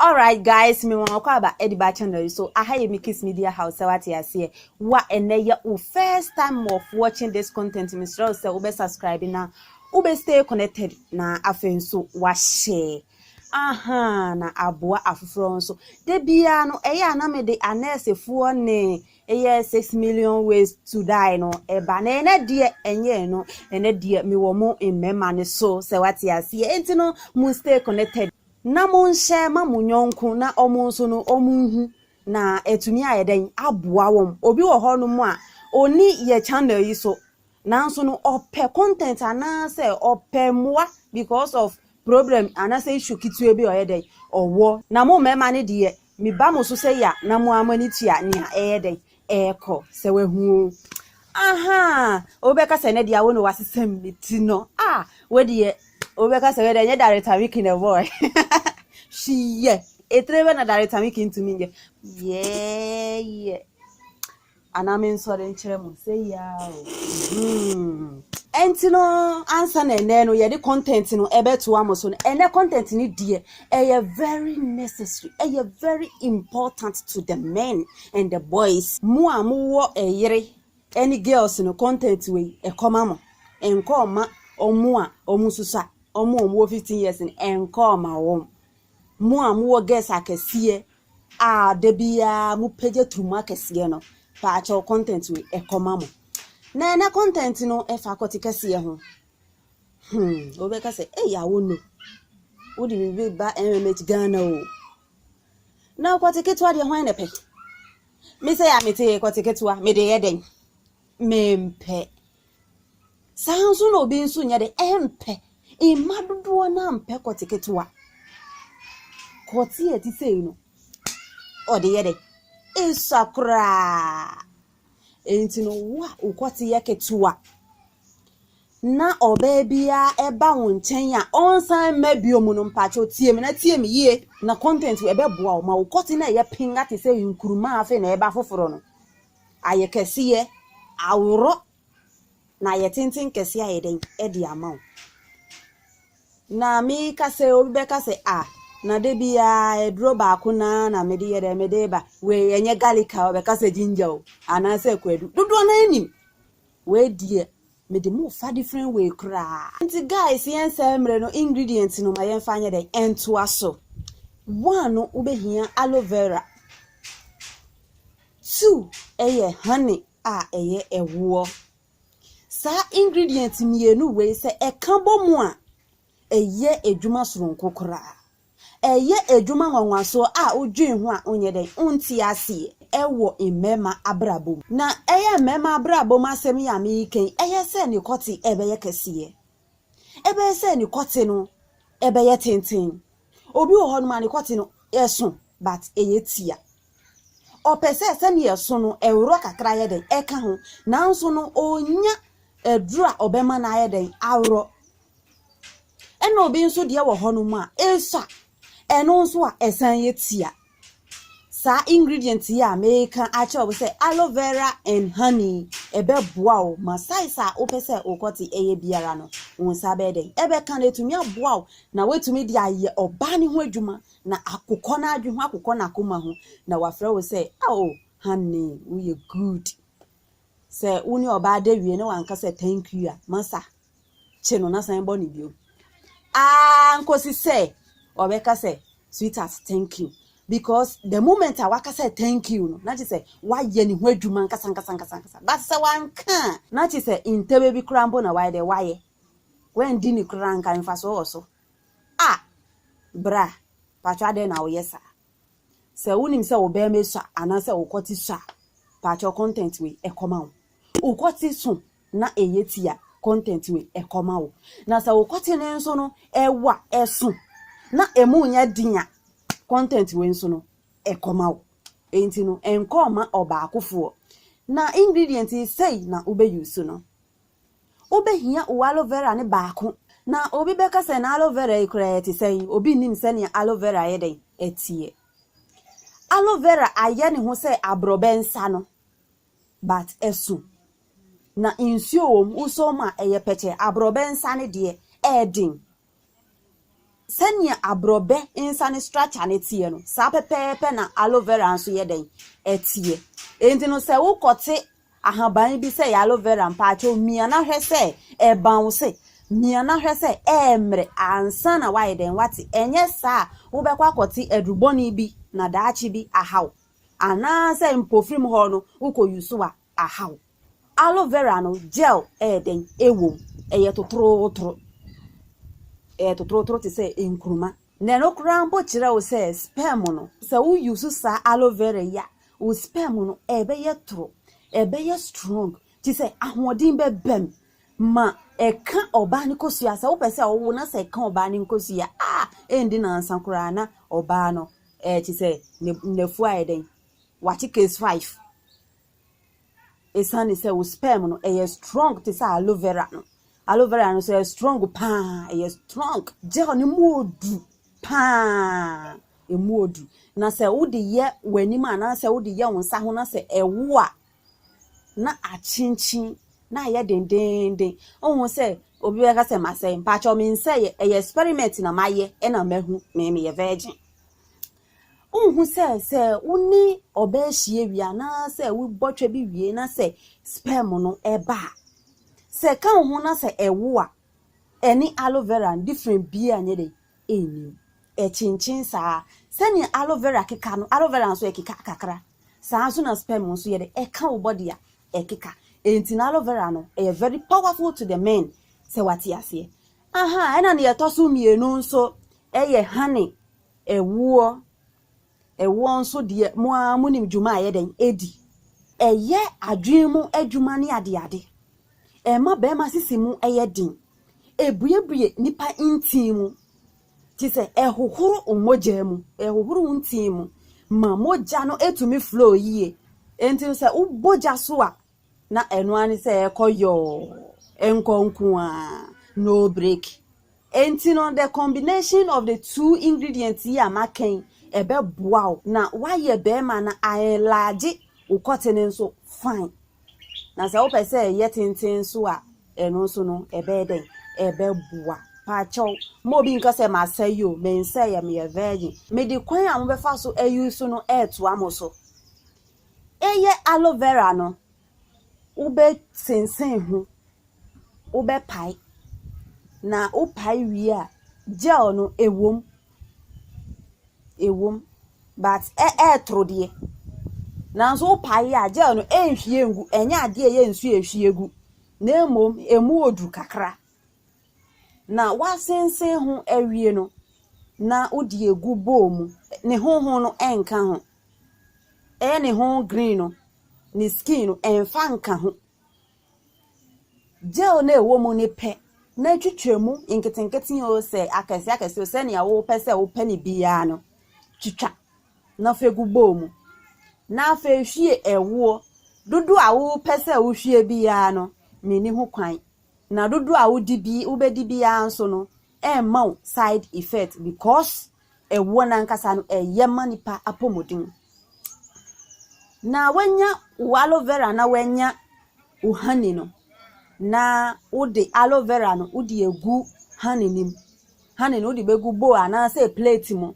Alright guys me wɔn ɔkɔ aba ɛde ba channel yi so aha yɛ me kiss media house sɛ wate aseɛ wa ɛnɛ yɛ wo first time of watching this content me srɛ wo sɛ wobɛ subscribe na wobɛ stay connected na afei nso wa share aha na aboa afoforɔ nso da biara no ɛyɛ a na me de anɛɛsefoɔ ne ɛyɛ six million ways to die no ɛba na ɛnɛ deɛ ɛnyɛ no ɛnɛ deɛ me wɔ mo mmarima no so sɛ wate aseɛ ɛnti no mo stay connected Na monhyɛ ma mo yɔnko na wɔn nso no wɔnhu na atumi ayɛ dɛn aboa wɔn. Obi wɔ hɔ nom a ɔnni yɛ channel yi so nanso no ɔpɛ content anaasɛ ɔpɛ mmoa because of problem anaasɛ issue ketewa bi a ɔyɛ dɛn ɔwɔ. Na mo mmarima no deɛ Meba mo so sɛ ya na mo ara mo ani tua nea ɛyɛ dɛn? Ɛrekɔ. Sɛ wahu oo. Ahaa! Obi bɛka sɛ ɛnnɛ deɛ awo ne wasesam ne ti no. A! Wo deɛ, obi bɛka sɛ wei deɛ ɛnyɛ Darita Wiki na ɛbɔɔe. Hwiyɛ! Etire bɛ na Darita Wiki ntumi nyɛ. Yɛɛyɛ! Anaa mensɔre nkyerɛ mo sɛ yi ara o. Hmm. Ɛnti no ansa na ɛnɛ no yɛde content no ɛbɛtoa mo so no ɛnɛ content no deɛ ɛyɛ very necessary ɛyɛ very important to the men and the boys mo a mowɔ ɛyere ɛne girls no content wei ɛkɔma mo ɛnkɔ ɔma ɔmo a ɔmo susua ɔmo a ɔmo wɔ 15 years no ɛnkɔ ɔma wɔn Mo a mowɔ gas akɛseɛ a da biaa mo pagya turumu akɛseɛ no, paakyɛw content wei ɛkɔ ma mo. Na ɛnɛ content no ɛfa akɔte kɛseɛ ho. Hmm, wobɛka sɛ, ei awono, wode biribi ba MMH Ghana o. Na akɔte ketewa deɛ hwan na ɛpɛ? Me sɛ yɛ a mete akɔte ketewa, mede yɛ dɛn? mempɛ. Saa ara nso na obi nso nyɛ dɛ, ɛmpɛ. Mma dodoɔ no ara mpɛ kɔte ketewa. Kɔte a ɛte sei no, ɔde yɛ dɛ, ɛsua koraa. Enti no, wo a wo kɔte yɛ ketewa na ɔbaa biara ba wo nkyɛn a ɔnsan mma bio mu no, mpakyɛw tie me na tie me yie na content wei ɛbɛboa wo ma wo kɔte no a ɛyɛ penga te sɛ nkuruma a afei na ɛreba foforɔ no, ayɛ kɛseyɛ, aworɔ, na ayɛ tenten kɛse ayɛ dɛn? De ama wo. Na meka sɛ, obi bɛka sɛ, ah, na da biara aduro baako no ara na mede yɛ dɛn, mede ba. Wei ɛnyɛ garlic a, ɔbɛka sɛ ginger o, anaasɛ kwadu. Dodoɔ no ara nim. Wei deɛ, Me de mo fa different way koraa. Nti guys yɛn sɛe mmere no ingredients no ma yɛn fa nyɛ dɛn ntoa so. One no wo bɛ hia aloe vera. Two ɛyɛ honey a ɛyɛ ɛwoɔ. Saa ingredients mmienu wei sɛ ɛka bɔ mu a ɛyɛ adwuma soronko koraa. Ɛyɛ adwuma nwanwasoɔ a wodwen ho a wonyɛ dɛn? Wonte aseɛ. Ɛwɔ mmarima abrabɔ mu. Na ɛyɛ mmarima abrabɔ mu asɛm yi a mereka yi, ɛyɛ sɛ ne kɔte ɛbɛyɛ kɛseɛ. Ɛbɛyɛ sɛ ne kɔte no ɛbɛyɛ tenten. Obi wɔ hɔnom a ne kɔte no ɛso but ɛyɛ tia. Ɔpɛ sɛ sɛdeɛ ɛso no ɛworɔ kakra yɛ dɛn? Ɛka ho. Nanso no ɔnnya aduro a ɔbɛma no ayɛ dɛn? Aworɔ. Ɛna obi nso deɛ wɔ hɔ nom a esua ɛno nso a ɛsan yɛ tia. Saa ingredient yi a meka akyerɛ wo sɛ aloe vera and honey ɛbɛboa wo ma size a wopɛ sɛ wokɔte ɛyɛ biara no wo nsa bɛyɛ dɛn ɛbɛka na ɛtumi aboa wo na woatumi de ayɛ ɔbaa no ho adwuma na akokɔ no adwe ho akokɔ no akoma ho na wafrɛ wo sɛ oh honey woyɛ good sɛ wo ne ɔbaa da wie na wanka sɛ thank you a masa kye no na san bɔ no bio aa nkosi sɛ ɔbɛka sɛ sweetheart thank you because the moment a waka sɛ thank you no na kye sɛ wayɛ ne ho adwuma nkasa nkasa nkasa nkasa but sɛ wanka na kye sɛ ntɛbɛ bi koraa mpo na wayɛ dɛ wayɛ wandi ne koraa nka mfasoɔ wɔ so a bra patwa adɛn na woyɛ saa sɛ wonim sɛ wo bɛrima sua anaasɛ wokɔte sua patwa content wei ɛkɔma wo wokɔte so na ɛyɛ ti a, content wei ɛkɔma wo. Na sɛ wo kɔte no nso no ɛwa ɛso na ɛmu nyɛ den a, content wei nso no ɛkɔma wo. Enti no ɛnkɔ ma ɔbaakofoɔ. Na ingredient yi sɛi na wobɛ use no. Wobɛhia wo aloe vera no baako. Na obi bɛka sɛ na aloe vera yi koraa ɛte sɛn, obi nnim sɛnea aloe vera yɛ dɛn ɛteɛ. Aloe vera ayɛ ne ho sɛ aborɔbɛ nsa no. But ɛso na nsuo wɔ mu, wosɔ mu a ɛyɛ pɛkyɛ. Aborɔbɛ nsa no deɛ, ɛyɛ den. Sɛdeɛ aborɔbɛ nsa no structure no teɛ no, saa pɛpɛɛpɛ na aloe vera nso yɛ dɛn? Ɛteɛ. Enti no sɛ wokɔte ahaban bi sɛ ɛyɛ aloe vera, mpaakyɛw mia na hwɛ sɛ ɛbounce, mia na hwɛ sɛ ɛremmrɛ ansa na woayɛ dɛn? Woate. Ɛnyɛ saa a, wobɛkɔ akɔte adurubɔne bi na daakye bi aha wo. anaasɛ mpofirim hɔ no wokɔ yusu a ahaw. Aloe vera no gel yɛ dɛn? Ɛwom, ɛyɛ totorotoro. Ɛyɛ totorotoro te sɛ nkruma. Na ɛno koraa mpo kyerɛ wo sɛ sperm no, sɛ wo yusu saa aloe vera yi a, wo sperm no ɛbɛyɛ toro, ɛbɛyɛ strong, te sɛ ahoɔden bɛba mu ma ɛka ɔbaa no kosua. Sɛ wopɛ sɛ ɔwo na sɛ ɛka ɔbaa no nkosua a, ɛndi nansa koraa na ɔbaa no Ɛɛ te sɛ ne nnafua ayɛ dɛn? Wate case five. Esiane sɛ wo sperm no ɛyɛ strong te sɛ aloe vera no. Aloe vera no so ɛyɛ strong paa, ɛyɛ strong. Gel no mu odu paa, emu odu. Na sɛ wode yɛ w'anim anaasɛ wode yɛ wo nsa ho na sɛ ɛwo a, na akyenkyen na ayɛ dendeenden. Wohu sɛ obi bɛka sɛ masɛe, mpakyɛw mensɛe, ɛyɛ experiment na mayɛ ɛna mahu me meyɛ virgin. Wohu sɛ sɛ wo ne ɔbaa hyia wie anaasɛ wobɔ twɛ bi wie na sɛ sperm no ɛba a, sɛ ɛka wo ho na sɛ ɛwo a, ɛne aloe vera no different biara nyɛ dɛ ɛnnim. Ɛkyenkyen saa. Sɛnea aloe vera keka no, aloe vera nso ɛkeka kakra. Saa ara nso na sperm nso yɛ dɛ, ɛka wo body a, ɛkeka. Enti no aloe vera no, ɛyɛ very powerful to the men, sɛ wate aseɛ. Aha, ɛna nea ɛtɔ so mmienu nso yɛ honey, ɛwoɔ. Ɛwoɔ nso deɛ, mo ara monim dwuma a ɛyɛ dɛn? Ɛdi. Ɛyɛ adwene mu adwuma ne adeade. Ɛma barima sisi mu yɛ den. Ɛbuebue nipa ntini mu. te sɛ ɛhohoro wo mogya mu, ɛhohoro wo ntini mu ma mogya no tumi flow yie. Enti no sɛ wobɔ gya so a, na ɛno ara ne sɛ ɛkɔ yɔɔ, ɛnkɔ nko ara, no break. Enti no the combination of the two ingredients yi a maka yi, ɛbɛboa wo na woayɛ bɛrima na a enlarge wo kɔtene nso fine. Na sɛ wopɛ sɛ ɛyɛ tenten nso a, ɛno nso no, ɛbɛyɛ dɛn? Ɛbɛboa. Paakyɛw, ma obi nka sɛ masɛe o, mensɛeɛ, meyɛ virgin. Mede kwan a mobɛfa so ayi so no retoa mo so. Eyɛ aloe vera no, wobɛsensen ho wobɛpae, na wopae wie a, gel no ɛwom, ɛwom but ɛ ɛretoro deɛ. Nanso wopae yɛ a, gel no ɛrenhwie ngu, ɛnyɛ adeɛ a ɛyɛ nsuo a ɛhwie gu na mmom ɛmu wɔ duru kakra. Na woasensen ho awie no, na wode agu bowl mu, ne hoho no ɛnka ho, ɛyɛ ne ho green no, ne skin no ɛmfa nka ho. Gel no a ɛwɔ mu no pɛ na twitwa mu nketenkete oo sɛ akɛse akɛse oo sɛnea wopɛ sɛ wopɛ no biara no, twitwa na fa gu bowl mu. Na afei hwie ɛwoɔ. Dodoɔ a wopɛ sɛ wohwie biara no, menni ho kwan. Na dodoɔ a wodi bi wobɛdi biara nso no, ɛremma wo side effect because ɛwoɔ no ankasa no ɛyɛ ma nipa apɔmuden. Na wanya wo aloe vera na wanya wo honey no na wode aloe vera no wode agu honey no mu. Honey no wode bɛgu bowl anaasɛ plate mu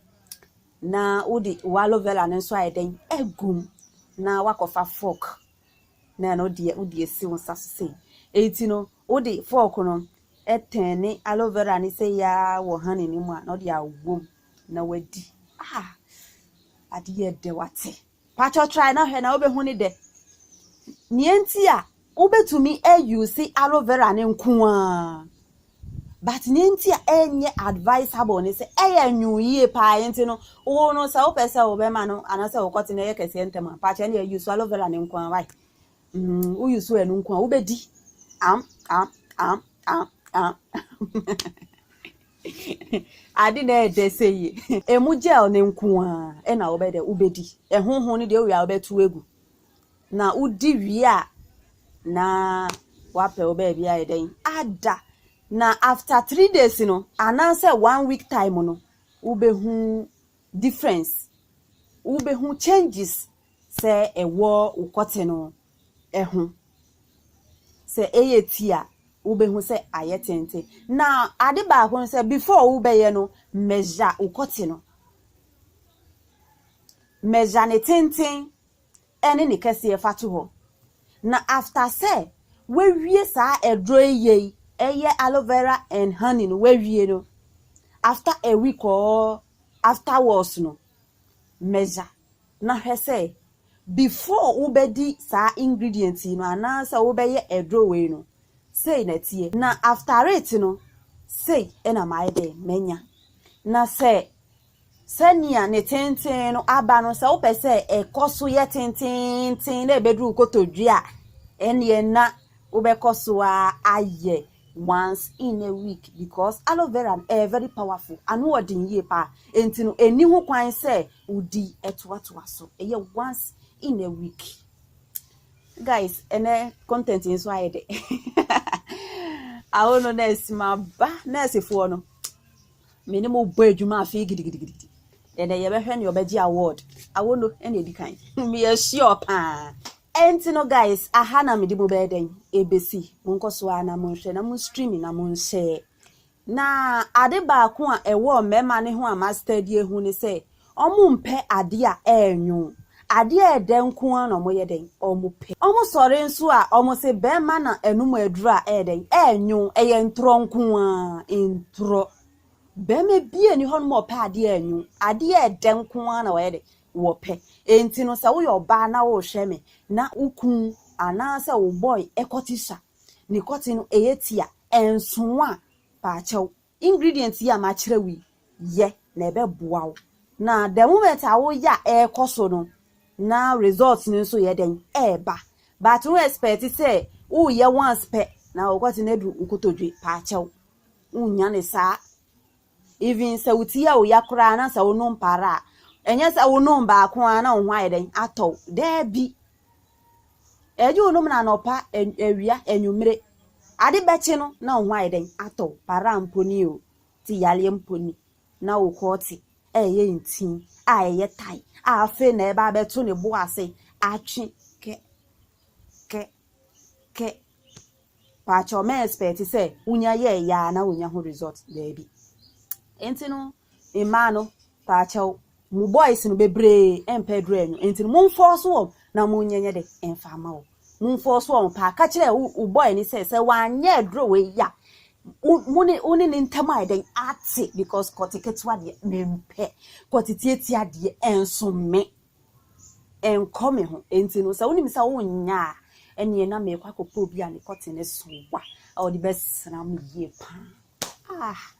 na wode wo aloe vera no nso ayɛ dɛn agu mu na woakɔfa fork. na ɛno deɛ wode asi wo nsa so sei. Enti no, wode fork no tɛn ne aloe vera ne sɛ yaa wɔ honey no mu a, na wode awom na wadi. Ah, ade yɛ dɛ wate. Pacho try na hwɛ na wobɛhu ne dɛ. Nea nti a wobɛtumi ayuse aloe vera no nko ara but nea nti a ɛnyɛ advisable ne sɛ ɛyɛ nwoo yie paa nti no wo no sɛ wopɛ sɛ wobɛma no anaasɛ wokɔte no ɛyɛ kɛseɛ ntɛm a paakyɛ ne ɛyi so aloe vera ne nko a wae mm, woyi so ɛno nko a wobɛdi am am am am am ade na ɛdɛ sɛ yie ɛmu gel ne nko a ɛna wobɛdɛ wobɛdi ɛhoho no deɛ wowie a wobɛto agu Na wodi wie a na wapɛ wo baabi ayɛ dɛn ada na after three days no anaasɛ one week time no wobɛhu difference wobɛhu changes sɛ ɛwɔ wo kɔte no ho sɛ ɛyɛ ti a wobɛhu sɛ ayɛ tenten na ade baako no sɛ before wobɛyɛ no measure wo kɔte no measure ne tenten ɛne ne kɛseɛ fa to hɔ na after sɛ wawie saa ɛduro yi yei ɛyɛ aloe vera and honey no wawie no after a week or afterwards no measure na hwɛ sɛ before wobɛdi saa ingredient yi no anaasɛ wobɛyɛ ɛduro wei no sei na ɛteɛ na after it no sei ɛna maayɛ dɛn manya na sɛ Sɛnea ne tenten no aba no, sɛ wopɛ sɛ ɛkɔ so yɛ tenteenten na ɛbɛduru wo kotodwe a, ɛnneɛ na wobɛkɔ so ara ayɛ once in a week because aloe vera no ɛyɛ very powerful, ano wɔ den yie paa, enti no ɛni ho kwan sɛ wodi ɛtoatoa so, ɛyɛ once in a week. Guys, ɛnɛ content nso ayɛ dɛ. Awo no nɛɛse ma ba nɛɛsefoɔ no. Me ne mo bɔ adwuma afei gidigidigidi. Ɛnɛ yɛbɛhwɛ ne ɔbɛgye award. Awono ɛna edi kan. Me yɛ sure paa. Ɛnti no guys, aha na mede mo bɛyɛ dɛn ebesi. Mo nkɔ so ara na mo nhwɛ na mo stream na mo nhyɛ. Na ade baako a ɛwɔ mmarima no ho a ma study ahu ne sɛ, Wɔmpɛ adeɛ a ɛrenwo. Adeɛ a ɛdɛ nko ara na wɔyɛ dɛn? Wɔpɛ. Wɔsɔre nso a, wɔse barima na anom aduro a ɛyɛ dɛn? Ɛrenwo. Ɛyɛ ntorɔ nko ara, ntorɔ. Barima biara nni hɔnom a ɔpɛ adeɛ a ɛrenwo. Adeɛ a ɛdɛ nko ara na wɔyɛ dɛn? Wɔpɛ. Enti no, sɛ woyɛ ɔbaa na worehwɛ me na wo kunu anaasɛ wo boy kɔte sua, ne kɔte no yɛ ti a, ɛnso wo a, paakyɛw. Ingredient yi a makyerɛw yi yɛ na ɛbɛboa wo na the moment a woyɛ a ɛrekɔ so no na result no nso yɛ dɛn ɛreba but wo expect sɛ woyɛ once pɛ na wokɔte no adu nkotodwe paakyɛw wonya ne saa even sɛ wo ti a woya koraa na sɛ wonom para a ɛnyɛ sɛ wonom baako a na wo ho ayɛ dɛn atɔw daabi Ɛgye wo nom no anɔpa, awia, anwummere. Ade bɛkye no na wo ho ayɛ dɛn? Atɔ wo. Paraa mpo ni o, te yareɛ mpo ni na wo kɔɔ te ɛyɛ ntin a ɛyɛ tae a afei na ɛba abɛto ne bo ase atwe kɛ kɛ kɛ. Paakyɛw mɛ expect sɛ wonya yɛɛ yɛ a na wonya ho result daabi. Enti no Mmaa no, paakyɛw, mo boys no bebree mpɛ aduru anwu, enti no monfɔɔso wɔn na monyɛ nyɛ de mfa mma wɔn. Monfɔɔso wɔn paa. Ka kyerɛ wo, wo boy no sɛ, sɛ wanyɛ aduru wei a, wo, mo ne, wo ne ne ntam ayɛ dɛn? Ate, because kɔte ketewa deɛ, mempɛ. Kɔte tiatia deɛ, ɛnso me. Ɛnkɔ me ho. Enti no, sɛ wonim sɛ wonyɛ a, ɛneɛ na merekɔ akɔpɛ obi a ne kɔte no so a, ɔde bɛsra me yie paa. Ah!